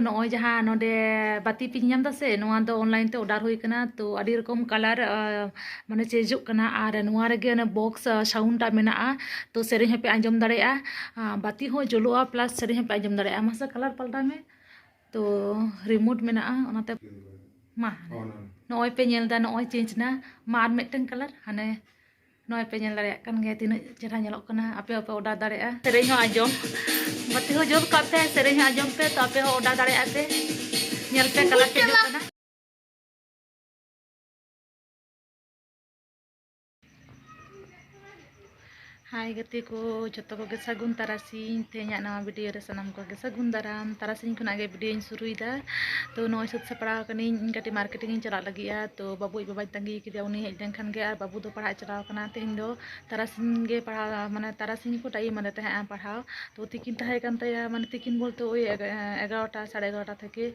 ᱱᱚᱜᱼᱚᱭ ᱡᱟᱦᱟᱸ ᱱᱚᱰᱮ ᱵᱟᱹᱛᱤ ᱯᱮ ᱧᱟᱢ ᱫᱟᱥᱮ ᱱᱚᱣᱟ ᱫᱚ ᱚᱱᱞᱟᱭᱤᱱ ᱛᱮ ᱚᱰᱟᱨ ᱦᱩᱭ ᱠᱟᱱᱟ ᱛᱚ ᱟᱹᱰᱤ ᱨᱚᱠᱚᱢ ᱠᱟᱞᱟᱨ ᱢᱟᱱᱮ ᱪᱮᱧᱡᱚᱜ ᱠᱟᱱᱟ ᱟᱨ ᱱᱚᱣᱟ ᱨᱮᱜᱮ ᱚᱱᱮ ᱵᱚᱠᱥ ᱥᱟᱣᱩᱱᱰ ᱟᱜ ᱢᱮᱱᱟᱜᱼᱟ ᱛᱚ ᱥᱮᱨᱮᱧ ᱦᱚᱸᱯᱮ ᱟᱸᱡᱚᱢ ᱫᱟᱲᱮᱭᱟᱜᱼᱟ ᱵᱟᱹᱛᱤ ᱦᱚᱸ ᱡᱩᱞᱩᱜᱼᱟ ᱯᱞᱟᱥ ᱥᱮᱨᱮᱧ ᱦᱚᱸᱯᱮ ᱟᱸᱡᱚᱢ ᱫᱟᱲᱮᱭᱟᱜᱼᱟ ᱢᱟᱥᱮ ᱠᱟᱞᱟᱨ ᱯᱟᱞᱴᱟᱣ ᱢᱮ ᱛᱚ ᱨᱤᱢᱳᱴ ᱢᱮᱱᱟᱜᱼᱟ ᱚᱱᱟᱛᱮ ᱢᱟ ᱱᱚᱜᱼᱚᱭ ᱯᱮ ᱧᱮᱞᱫᱟ ᱱᱚᱜᱼᱚᱭ ᱪᱮᱧᱡᱽ ᱮᱱᱟ ᱢᱟ ᱟᱨ ᱢᱤᱫᱴᱟᱝ ᱠᱟᱞᱟᱨ ᱦᱟᱱᱮ ᱱᱚᱜᱼᱚᱭ ᱯᱮ ᱧᱮᱞ ᱫᱟᱲᱮᱭᱟᱜ ᱠᱟᱱ ᱜᱮᱭᱟ ᱛᱤᱱᱟᱹᱜ ᱪᱮᱦᱨᱟ ᱧᱮᱞᱚᱜ ᱠᱟᱱᱟ ᱟᱯᱮ ᱦᱚᱸᱯᱮ ᱚᱰᱟᱨ ᱫᱟᱲᱮᱭᱟᱜᱼᱟ ᱥᱮᱨᱮᱧ ᱦᱚᱸ ᱟᱸᱡᱚᱢ ᱵᱟᱹᱛᱤ ᱦᱚᱸ ᱡᱩᱞ ᱠᱟᱜ ᱯᱮ ᱥᱮᱨᱮᱧ ᱦᱚᱸ ᱟᱸᱡᱚᱢ ᱯᱮ ᱛᱚ ᱟᱯᱮ ᱦᱚᱸ ᱚᱰᱟᱨ ᱫᱟᱲᱮᱭᱟᱜᱼᱟ ᱯᱮ ᱧᱮᱞ ᱯᱮ ᱠᱟᱞᱟᱨ ᱪᱮᱧᱡᱚᱜ ᱠᱟᱱᱟ ᱦᱟᱭ ᱜᱟᱛᱮ ᱠᱚ ᱡᱚᱛᱚ ᱠᱚᱜᱮ ᱥᱟᱹᱜᱩᱱ ᱛᱟᱨᱟᱥᱤᱧ ᱛᱮᱦᱮᱧᱟᱜ ᱱᱟᱣᱟ ᱵᱷᱤᱰᱤᱭᱳ ᱨᱮ ᱥᱟᱱᱟᱢ ᱠᱚᱜᱮ ᱥᱟᱹᱜᱩᱱ ᱫᱟᱨᱟᱢ ᱛᱟᱨᱟᱥᱤᱧ ᱠᱷᱚᱱᱟᱜ ᱜᱮ ᱵᱷᱤᱰᱤᱭᱳᱧ ᱥᱩᱨᱩᱭᱮᱫᱟ ᱛᱚ ᱱᱚᱜᱼᱚᱭ ᱥᱟᱹᱛ ᱥᱟᱯᱲᱟᱣ ᱠᱟᱹᱱᱟᱹᱧ ᱤᱧ ᱠᱟᱹᱴᱤᱡ ᱢᱟᱨᱠᱮᱴᱤᱝ ᱤᱧ ᱪᱟᱞᱟᱜ ᱞᱟᱹᱜᱤᱫᱼᱟ ᱛᱚ ᱵᱟᱹᱵᱩᱣᱟᱜ ᱵᱟᱵᱟᱧ ᱛᱟᱺᱜᱤ ᱠᱟᱫᱮᱭᱟ ᱩᱱᱤ ᱦᱮᱡ ᱞᱮᱱᱠᱷᱟᱱ ᱜᱮ ᱟᱨ ᱵᱟᱹᱵᱩ ᱫᱚ ᱯᱟᱲᱦᱟᱜ ᱮ ᱪᱟᱞᱟᱣ ᱠᱟᱱᱟ ᱛᱮᱦᱮᱧ ᱫᱚ ᱛᱟᱨᱟᱥᱤᱧ ᱜᱮ ᱯᱟᱲᱦᱟᱣ ᱢᱟᱱᱮ ᱛᱟᱨᱟᱥᱤᱧ ᱜᱮᱠᱚ ᱴᱟᱭᱤᱢ ᱟᱫᱮ ᱛᱟᱦᱮᱸᱜᱼᱟ ᱯᱟᱲᱦᱟᱣ ᱛᱚ ᱛᱤᱠᱤᱱ ᱛᱟᱦᱮᱸ ᱠᱟᱱ ᱛᱟᱭᱟ ᱢᱟᱱᱮ ᱛᱤᱠᱤᱱ ᱵᱚᱞᱛᱮ ᱳᱭ ᱮᱜᱟᱨᱚᱴᱟ ᱥᱟᱲᱮ ᱮᱜᱟᱨᱚᱴᱟ ᱛᱷᱮᱠᱮ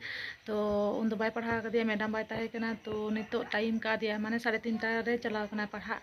ᱛᱚ ᱩᱱᱫᱚ ᱵᱟᱭ ᱯᱟᱲᱦᱟᱣ ᱠᱟᱫᱮᱭᱟ ᱢᱮᱰᱟᱢ ᱵᱟᱭ ᱛᱟᱦᱮᱸ ᱠᱟᱱᱟ ᱛᱚ ᱱᱤᱛᱚᱜ ᱴᱟᱭᱤᱢ ᱠᱟᱣᱫᱮᱭᱟ ᱢᱟᱱᱮ ᱥᱟᱲᱮ ᱛᱤᱱᱴᱟ ᱨᱮ ᱪᱟᱞᱟᱣ ᱠᱟᱱᱟᱭ ᱯᱟᱲᱦᱟᱜ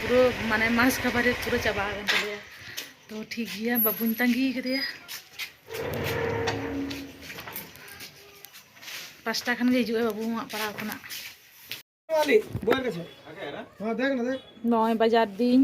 ᱯᱩᱨᱟᱹ ᱢᱟᱱᱮ ᱢᱟᱥ ᱠᱟᱵᱷᱟᱨᱮᱡᱽ ᱯᱩᱨᱟᱹ ᱪᱟᱵᱟ ᱟᱠᱟᱱ ᱛᱟᱞᱮᱭᱟ ᱛᱚ ᱴᱷᱤᱠ ᱜᱮᱭᱟ ᱵᱟᱹᱵᱩᱧ ᱛᱟᱺᱜᱤ ᱠᱟᱫᱮᱭᱟ ᱯᱟᱸᱪᱴᱟ ᱠᱷᱟᱱ ᱜᱮ ᱦᱤᱡᱩᱜ ᱟᱭ ᱵᱟᱹᱵᱩ ᱦᱚᱸ ᱯᱟᱲᱦᱟᱣ ᱠᱷᱚᱱᱟᱜ ᱱᱚᱜᱼᱚᱭ ᱵᱟᱡᱟᱨ ᱫᱤᱧ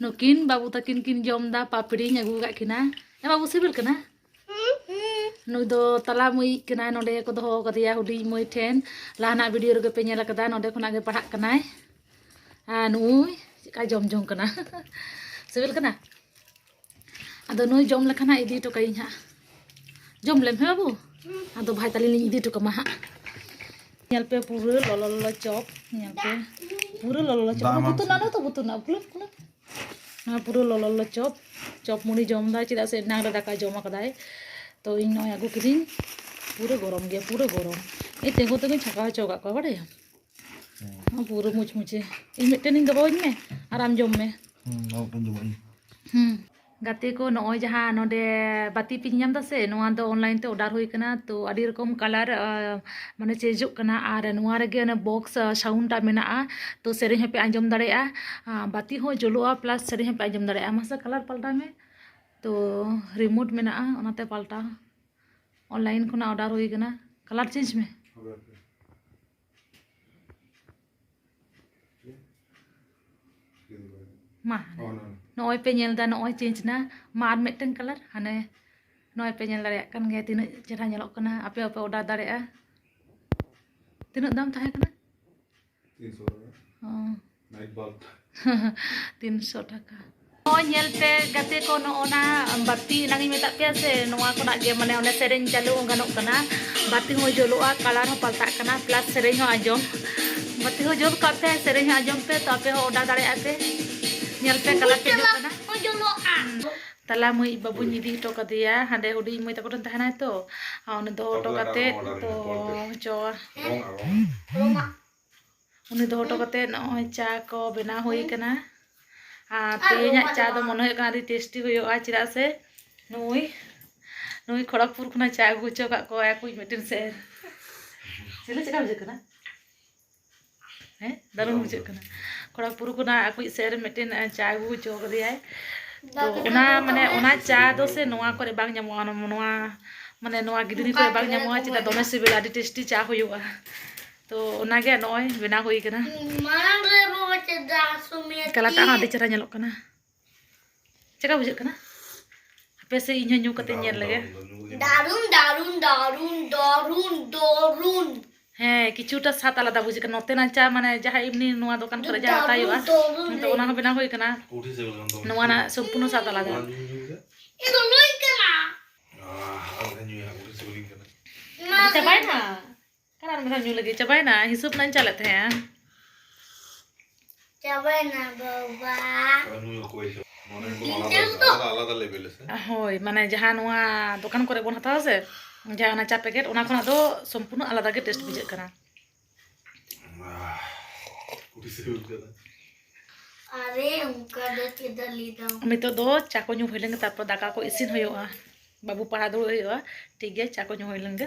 ᱱᱩᱠᱤᱱ ᱵᱟᱹᱵᱩ ᱛᱟᱹᱠᱤᱱ ᱠᱤᱱ ᱡᱚᱢ ᱫᱟ ᱯᱟᱯᱲᱤᱧ ᱟᱹᱜᱩ ᱠᱟᱜ ᱠᱤᱱᱟ ᱮ ᱵᱟᱹᱵᱩ ᱥᱤᱵᱤᱞ ᱠᱟᱱᱟ ᱱᱩᱭ ᱫᱚ ᱛᱟᱞᱟ ᱢᱟᱹᱭᱤᱡ ᱠᱟᱱᱟᱭ ᱱᱚᱰᱮ ᱠᱚ ᱫᱚᱦᱚ ᱠᱟᱫᱮᱭᱟ ᱦᱩᱰᱤᱧ ᱢᱟᱹᱭ ᱴᱷᱮᱱ ᱞᱟᱦᱟᱱᱟᱜ ᱵᱷᱤᱰᱤᱭᱳ ᱨᱮᱜᱮ ᱯᱮ ᱧᱮᱞ ᱠᱟᱫᱟ ᱱᱚᱰᱮ ᱠᱷᱚᱱᱟᱜ ᱜᱮ ᱯᱟᱲᱦᱟᱜ ᱠᱟᱱᱟᱭ ᱟᱨ ᱱᱩᱭ ᱪᱮᱫᱠᱟᱭ ᱡᱚᱢ ᱡᱚᱝ ᱠᱟᱱᱟ ᱥᱤᱵᱤᱞ ᱠᱟᱱᱟ ᱟᱫᱚ ᱱᱩᱭ ᱡᱚᱢ ᱞᱮᱠᱷᱟᱱ ᱦᱟᱸᱜ ᱤᱫᱤ ᱦᱚᱴᱚ ᱠᱟᱭᱤᱧ ᱦᱟᱸᱜ ᱡᱚᱢ ᱞᱮᱢ ᱦᱮᱸ ᱵᱟᱹᱵᱩ ᱟᱫᱚ ᱵᱷᱟᱭ ᱛᱟᱹᱞᱤᱧ ᱞᱤᱧ ᱤᱫᱤ ᱦᱚᱴᱚ ᱠᱟᱢᱟ ᱦᱟᱸᱜ ᱧᱮᱞ ᱯᱮ ᱯᱩᱨᱟᱹ ᱞᱚᱞᱚ ᱞᱚᱞᱚ ᱪᱚᱯ ᱧᱮᱞ ᱯᱮ ᱯᱩᱨᱟᱹ ᱞᱚᱞᱚ ᱞᱚᱞᱚ ᱪᱚᱯ ᱵᱩᱛᱩ ᱱᱟᱱᱟ ᱛᱚ ᱵᱩᱛᱩ ᱱᱟ ᱠᱩᱞᱟᱹᱯ ᱠᱩᱞᱟᱹᱯ ᱱᱚᱣᱟ ᱯᱩᱨᱟᱹ ᱞᱚᱞᱚ ᱞᱚᱞᱚ ᱪᱚᱯ ᱪᱚᱯ ᱢᱩᱲᱤ ᱡᱚᱢ ᱫᱟᱭ ᱪᱮᱫᱟᱜ ᱥᱮ ᱮᱱᱟᱝ ᱨᱮ ᱫᱟᱠᱟ ᱡᱚᱢ ᱟᱠᱟᱫᱟᱭ ᱛᱚ ᱤᱧ ᱱᱚᱜᱼᱚᱭ ᱟᱹᱜᱩ ᱠᱤᱫᱤᱧ ᱯᱩᱨᱟᱹ ᱜᱚᱨᱚᱢ ᱜᱮᱭᱟ ᱯᱩᱨᱟᱹ ᱜᱚᱨᱚᱢ ᱤᱧ ᱛᱤᱸᱜᱩ ᱛᱤᱸᱜᱩᱧ ᱪᱷᱟᱸᱠᱟᱣ ᱦᱚᱪᱚ ᱟᱠᱟᱫ ᱠᱚᱣᱟ ᱵᱟᱲᱟᱭᱟᱢ ᱯᱩᱨᱟᱹ ᱢᱩᱪᱢᱩᱪᱮ ᱤᱧ ᱢᱤᱫᱴᱮᱱᱤᱧ ᱫᱚᱦᱚᱣᱟᱹᱧ ᱢᱮ ᱟᱨ ᱟᱢ ᱡᱚᱢ ᱢᱮ ᱦᱩᱸ ᱜᱟᱛᱮ ᱠᱚ ᱱᱚᱜᱼᱚᱭ ᱡᱟᱦᱟᱸ ᱱᱚᱰᱮ ᱵᱟᱹᱛᱤ ᱯᱤᱧ ᱧᱟᱢ ᱮᱫᱟ ᱥᱮ ᱱᱚᱣᱟ ᱫᱚ ᱚᱱᱞᱟᱭᱤᱱ ᱛᱮ ᱚᱰᱟᱨ ᱦᱩᱭ ᱠᱟᱱᱟ ᱛᱚ ᱟᱹᱰᱤ ᱨᱚᱠᱚᱢ ᱠᱟᱞᱟᱨ ᱢᱟᱱᱮ ᱪᱮᱧᱡᱚᱜ ᱠᱟᱱᱟ ᱟᱨ ᱱᱚᱣᱟ ᱨᱮᱜᱮ ᱚᱱᱮ ᱵᱚᱠᱥ ᱥᱟᱣᱩᱱᱰ ᱴᱟᱜ ᱢᱮᱱᱟᱜᱼᱟ ᱛᱚ ᱥᱮᱨᱮᱧ ᱦᱚᱸᱯᱮ ᱟᱸᱡᱚᱢ ᱫᱟᱲᱮᱭᱟᱜᱼᱟ ᱵᱟᱹᱛᱤ ᱦᱚᱸ ᱡᱩᱞᱩᱜᱼᱟ ᱯᱞᱟᱥ ᱥᱮᱨᱮᱧ ᱦᱚᱸᱯᱮ ᱟᱸᱡᱚᱢ ᱫᱟᱲᱮᱭᱟᱜᱼᱟ ᱢᱟᱥᱮ ᱠᱟᱞᱟᱨ ᱯᱟᱞᱴᱟᱣ ᱢᱮ ᱛᱚ ᱨᱤᱢᱳᱴ ᱢᱮᱱᱟᱜᱼᱟ ᱚᱱᱟᱛᱮ ᱯᱟᱞᱴᱟᱣ ᱚᱱᱞᱟᱭᱤᱱ ᱠᱷᱚᱱᱟᱜ ᱚᱰᱟᱨ ᱦᱩᱭ ᱠᱟᱱᱟ ᱠᱟᱞᱟᱨ ᱪᱮᱧᱡᱽ ᱢᱮ ᱢᱟ ᱱᱚᱜᱼᱚᱭ ᱯᱮ ᱧᱮᱞ ᱮᱫᱟ ᱱᱚᱜᱼᱚᱭ ᱪᱮᱧᱡᱽ ᱮᱱᱟ ᱢᱟ ᱟᱨ ᱢᱤᱫᱴᱟᱝ ᱠᱟᱞᱟᱨ ᱦᱟᱱᱮ ᱱᱚᱜᱼᱚᱭ ᱯᱮ ᱧᱮᱞ ᱫᱟᱲᱮᱭᱟᱜ ᱠᱟᱱ ᱜᱮᱭᱟ ᱛᱤᱱᱟᱹᱜ ᱪᱮᱦᱨᱟ ᱧᱮᱞᱚᱜ ᱠᱟᱱᱟ ᱟᱯᱮ ᱦᱚᱸᱯᱮ ᱚᱰᱟᱨ ᱫᱟᱲᱮᱭᱟᱜᱼᱟ ᱛᱤᱱᱟᱹᱜ ᱫᱟᱢ ᱛᱟᱦᱮᱸ ᱠᱟᱱᱟ ᱛᱤᱱᱥᱚ ᱴᱟᱠᱟ ᱱᱚᱜᱼᱚᱭ ᱧᱮᱞ ᱯᱮ ᱜᱟᱛᱮ ᱠᱚ ᱱᱚᱜᱼᱚᱱᱟ ᱵᱟᱹᱛᱤ ᱮᱱᱟᱝ ᱤᱧ ᱢᱮᱛᱟᱫ ᱯᱮᱭᱟ ᱥᱮ ᱱᱚᱣᱟ ᱠᱷᱚᱱᱟᱜ ᱜᱮ ᱢᱟᱱᱮ ᱚᱱᱮ ᱥᱮᱨᱮᱧ ᱪᱟᱹᱞᱩ ᱦᱚᱸ ᱜᱟᱱᱚᱜ ᱠᱟᱱᱟ ᱵᱟᱹᱛᱤ ᱦᱚᱸ ᱡᱩᱞᱩᱜᱼᱟ ᱠᱟᱞᱟᱨ ᱦᱚᱸ ᱯᱟᱞᱴᱟᱜ ᱠᱟᱱᱟ ᱯᱞᱟᱥ ᱥᱮᱨᱮᱧ ᱦᱚᱸ ᱟᱸᱡᱚᱢ ᱵᱟᱹᱛᱤ ᱦᱚᱸ ᱡᱩᱞ ᱠᱟᱜ ᱯᱮ ᱥᱮᱨᱮᱧ ᱦᱚᱸ ᱟᱸᱡᱚᱢ ᱯᱮ ᱛᱚ ᱟᱯᱮ ᱦᱚᱸ ᱚᱰᱟᱨ ᱫᱟᱲᱮᱭᱟᱜᱼᱟ ᱯᱮ ᱧᱮᱞ ᱯᱮ ᱠᱟᱞᱟᱨ ᱪᱮᱧᱡᱚᱜ ᱠᱟᱱᱟ ᱛᱟᱞᱟ ᱢᱟᱹᱭ ᱵᱟᱹᱵᱩᱧ ᱤᱫᱤ ᱦᱚᱴᱚ ᱠᱟᱫᱮᱭᱟ ᱦᱟᱸᱰᱮ ᱦᱩᱰᱤᱧ ᱢᱟᱹᱭ ᱛᱟᱠᱚ ᱴᱷᱮᱱ ᱛᱟᱦᱮᱱᱟᱭ ᱛᱚ ᱩᱱᱤ ᱫᱚᱦᱚ ᱦᱚᱴᱚ ᱠᱟᱛᱮ ᱛᱚ ᱪᱚ ᱩᱱᱤ ᱫᱚᱦᱚ ᱦᱚᱴᱚ ᱠᱟᱛᱮ ᱱᱚᱜᱼᱚᱭ ᱪᱟ ᱠᱚ ᱵᱮᱱᱟᱣ ᱦᱩᱭ ᱠᱟᱱᱟ ᱟᱨ ᱛᱮᱦᱮᱧᱟᱜ ᱪᱟ ᱫᱚ ᱢᱚᱱᱮ ᱦᱩᱭᱩᱜ ᱠᱟᱱᱟ ᱟᱹᱰᱤ ᱴᱮᱥᱴᱤ ᱦᱩᱭᱩᱜᱼᱟ ᱪᱮᱫᱟᱜ ᱥᱮ ᱱᱩᱭ ᱱᱩᱭ ᱠᱷᱚᱲᱚᱜᱽᱯᱩᱨ ᱠᱷᱚᱱᱟᱜ ᱪᱟ ᱟᱹᱜᱩ ᱦᱚᱪᱚ ᱠᱟᱜ ᱠᱚᱣᱟ ᱟᱠᱚᱭᱤᱡ ᱢᱤᱫᱴᱮᱱ ᱥᱮᱨ ᱪᱮᱫ ᱞᱮᱠᱟ ᱵᱩᱡᱷᱟᱹᱜ ᱠᱟᱱᱟ ᱦᱮᱸ ᱫᱟᱨᱩᱱ ᱵᱩᱡᱷᱟᱹᱜ ᱠᱟᱱᱟ ᱠᱚᱲᱟ ᱯᱩᱨᱩ ᱠᱚᱱᱟ ᱟᱠᱩᱡ ᱥᱮᱫ ᱨᱮ ᱢᱤᱫᱴᱮᱱ ᱪᱟ ᱟᱹᱜᱩ ᱦᱚᱪᱚ ᱠᱟᱫᱮᱭᱟᱭ ᱛᱚ ᱚᱱᱟ ᱢᱟᱱᱮ ᱚᱱᱟ ᱪᱟ ᱫᱚ ᱥᱮ ᱱᱚᱣᱟ ᱠᱚᱨᱮ ᱵᱟᱝ ᱧᱟᱢᱚᱜᱼᱟ ᱱᱚᱣᱟ ᱢᱟᱱᱮ ᱱᱚᱣᱟ ᱜᱤᱫᱽᱨᱤ ᱠᱚᱨᱮ ᱵᱟᱝ ᱧᱟᱢᱚᱜᱼᱟ ᱪᱮᱫᱟᱜ ᱫᱚᱢᱮ ᱥᱤᱵᱤᱞᱟ ᱟᱹᱰᱤ ᱴᱮᱥᱴᱤ ᱪᱟ ᱦᱩᱭᱩᱜᱼᱟ ᱛᱚ ᱚᱱᱟᱜᱮ ᱱᱚᱜᱼᱚᱭ ᱵᱮᱱᱟᱣ ᱦᱩᱭ ᱠᱟᱱᱟ ᱠᱟᱞᱟᱨᱴᱟᱜ ᱦᱚᱸ ᱟᱹᱰᱤ ᱪᱮᱦᱨᱟ ᱧᱮᱞᱚᱜ ᱠᱟᱱᱟ ᱪᱮᱫᱠᱟ ᱵᱩᱡᱷᱟᱹᱜ ᱠᱟᱱᱟ ᱦᱟᱯᱮ ᱥᱮ ᱤᱧ ᱦᱚᱸ ᱧᱩ ᱠᱟᱛᱮ ᱧᱮᱞ ᱞᱮᱜᱮ ᱫᱟᱨᱩᱱ ᱫᱟᱨᱩᱱ ᱫᱟᱨᱩᱱ ᱫᱟᱨᱩᱱ ᱫᱟᱨᱩᱱ ᱦᱮᱸ ᱠᱤᱪᱷᱩᱴᱟ ᱥᱟᱛ ᱟᱞᱟᱫᱟ ᱵᱩᱡᱷᱟᱹᱜ ᱠᱟᱱᱟ ᱱᱚᱛᱮᱱᱟᱜ ᱪᱟ ᱢᱟᱱᱮ ᱡᱟᱦᱟᱸ ᱮᱢᱱᱤ ᱱᱚᱣᱟ ᱫᱚᱠᱟᱱ ᱠᱚᱨᱮ ᱡᱟᱦᱟᱸ ᱦᱟᱛᱟᱣ ᱦᱩᱭᱩᱜᱼᱟ ᱱᱤᱛᱚᱜ ᱚᱱᱟ ᱦᱚᱸ ᱵᱮᱱᱟᱣ ᱦᱩᱭ ᱠᱟᱱᱟ ᱱᱚᱣᱟ ᱨᱮᱱᱟᱜ ᱥᱚᱢᱯᱩᱨᱱᱚ ᱥᱟᱛ ᱟᱞᱟᱫᱟ ᱪᱟᱵᱟᱭᱮᱱᱟ ᱟᱨ ᱟᱨ ᱢᱤᱫ ᱫᱷᱟᱣ ᱧᱩ ᱞᱟᱹᱜᱤᱫ ᱪᱟᱵᱟᱭᱮᱱᱟ ᱦᱤᱥᱟᱹᱵ ᱨᱮᱱᱟᱜ ᱤᱧ ᱪᱟᱞᱮᱫ ᱛᱟᱦᱮᱸᱜᱼᱟ ᱪᱟᱵᱟᱭᱮᱱᱟ ᱵᱟᱵᱟ ᱦᱳᱭ ᱢᱟᱱᱮ ᱡᱟᱦᱟᱸ ᱱᱚᱣᱟ ᱫᱚᱠᱟᱱ ᱠᱚᱨᱮ ᱵᱚᱱ ᱦᱟᱛᱟᱣᱟ ᱥᱮ ᱡᱟᱦᱟᱸ ᱚᱱᱟ ᱪᱟ ᱯᱮᱠᱮᱴ ᱚᱱᱟ ᱠᱷᱚᱱᱟᱜ ᱫᱚ ᱥᱚᱢᱯᱩᱨᱱᱚ ᱟᱞᱟᱫᱟ ᱜᱮ ᱴᱮᱥᱴ ᱵᱩᱡᱷᱟᱹᱜ ᱠᱟᱱᱟ ᱟᱨᱮ ᱚᱱᱠᱟ ᱫᱚ ᱪᱮᱫᱟᱜ ᱞᱟᱹᱭ ᱫᱟᱢ ᱱᱤᱛᱚᱜ ᱫᱚ ᱪᱟ ᱠᱚ ᱧᱩ ᱦᱩᱭ ᱞᱮᱱᱜᱮ ᱛᱟᱨᱯᱚᱨ ᱫᱟᱠᱟ ᱠᱚ ᱤᱥᱤᱱ ᱦᱩᱭᱩᱜᱼᱟ ᱵᱟᱹᱵᱩ ᱯᱟᱲᱦᱟᱣ ᱫᱩᱲᱩᱵ ᱦᱩᱭᱩᱜᱼᱟ ᱴᱷᱤᱠ ᱜᱮᱭᱟ ᱪᱟ ᱠᱚ ᱧᱩ ᱦᱩᱭ ᱞᱮᱱᱜᱮ